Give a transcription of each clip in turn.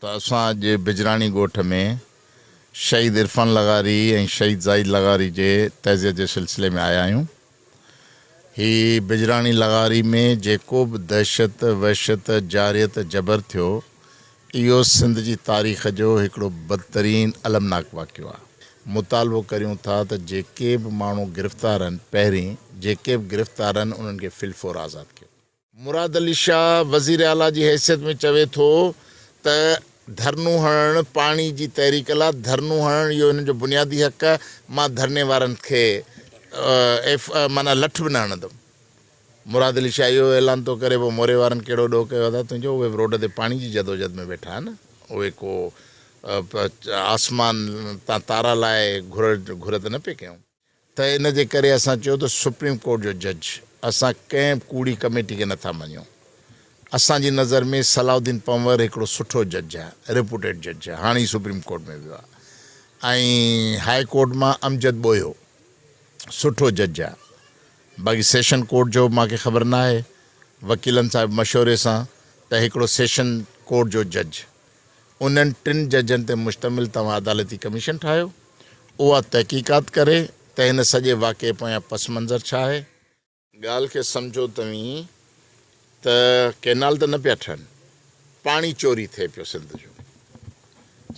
ته اسان جي بجراڻي ڳوٺ ۾ شهيد عرفان لغاري ۽ شهيد زاهد لغاري جي تعزيت جي سلسلي ۾ آيا آهيون. هي بجراڻي لغاري ۾ جيڪو به دهشت، وحشت، جارحيت، جبر ٿيو اهو سنڌ جي تاريخ جو هڪڙو بدترين المناڪ واقعو آهي. مطالبو ڪريون ٿا ته جيڪي به ماڻهو گرفتار آهن پهرين جيڪي به گرفتار آهن انهن کي في الفور آزاد ڪيو وڃي. مراد علي شاهه وزير اعليٰ جي حيثيت ۾ چوي ٿو ته ڌرنو هڻڻ پاڻي جي تحريڪ لا ڌرنو هڻڻ اهو هنن جو بنيادي حق آهي مان ڌرني وارن کي ايف معنيٰ لٺ به نه هڻندم مراد علي شاهه اهو اعلان ٿو ڪري پوء موري وارن ڪهڙو ڏوهه ڪيو ادا تنهنجو اهي به روڊ تي پاڻي جي جدوجهد ۾ ويٺا آهن اهي ڪو آسمان تان تارا لاهي گهر گهر ته نه پئي ڪيون. ته ان جي ڪري اسان چيو ته سپريم ڪورٽ جو جج اسان ڪنهن به ڪوڙي ڪميٽي کي نٿا مڃيون. اسان جي نظر ۾ صلاح الدين پنور هڪڙو سٺو جج آهي، ريپوٽيڊ جج آهي، هاڻي هي سپريم ڪورٽ ۾ ويو آهي ۽ هاء ڪورٽ مان امجد ٻوهيو سٺو جج آهي باقي سيشن ڪورٽ جو مان کي خبر ناهي وڪيلن سان مشوري سان ته هڪڙو سيشن ڪورٽ جو جج انهن ٽن ججن تي مشتمل توهان عدالتي ڪميشن ٺاهيو، اها تحقيقات ڪري ته هن سڄي واقعي پويان پس منظر ڇا آهي. ڳالهه کي سمجهو توهين ته ڪئنال ته نه پيا ٺهن، پاڻي چوري ٿئي پيو سنڌ جو.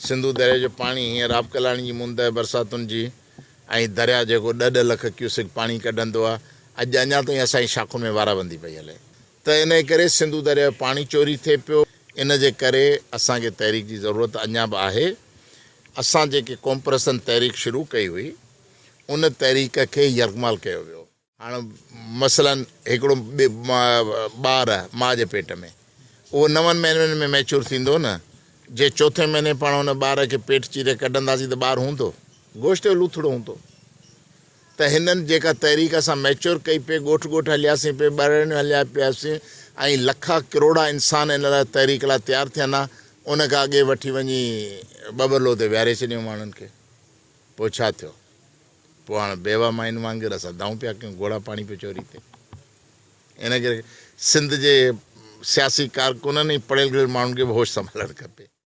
سنڌو درياء جو پاڻي هينئر آبڪلاڻي جي موندهه برساتن جي ۽ درياء جيڪو ڏهه ڏهه لک ڪيوسڪ پاڻي ڪڍندو آهي، اڄ اڃا تائين اسان جي شاخن ۾ وارابندي پئي هلي. ته انهيء ڪري سنڌو درياء جو پاڻي چوري ٿئي پيو. ان جي ڪري اسان کي تحريڪ جي ضرورت اڃا به آهي. اسان جيڪي قومپرستن تحريڪ شروع ڪئي هئي، ان تحريڪ کي يرغمال ڪيو ويو. هاڻ مثلاً هڪڙو ٻار ماء جي پيٽ ۾، اهو نون مهينن ۾ ميچور ٿيندو نه؟ جي چوٿين مهيني پاڻ ان ٻار کي پيٽ چيري ڪڍنداسين ته ٻار هوندو؟ گوشت جو لوٿڙو هوندو. ته هنن جيڪا تحريڪ اسان ميچور ڪئي پئي، ڳوٺ ڳوٺ هلياسين پئي، ٻهراڙيون هليا پياسين ۽ لکا ڪروڙا انسان ان لاء تحريڪ لاء تيار ٿين ها، ان کان اڳي وٺي وڃي ٻٻرلو تي ويهاري ڇڏيون ماڻهن کي، پوء ڇا ٿيو؟ پوء هاڻ بيوه ماين وانگر اسان دانهون پيا ڪيون، گهوڙا پاڻي پيو چوري ٿئي. ان ڪري سنڌ جي سياسي ڪارڪنن ۽ پڙهيل گهڙيل ماڻهن کي به هوش سنڀالڻ کپي.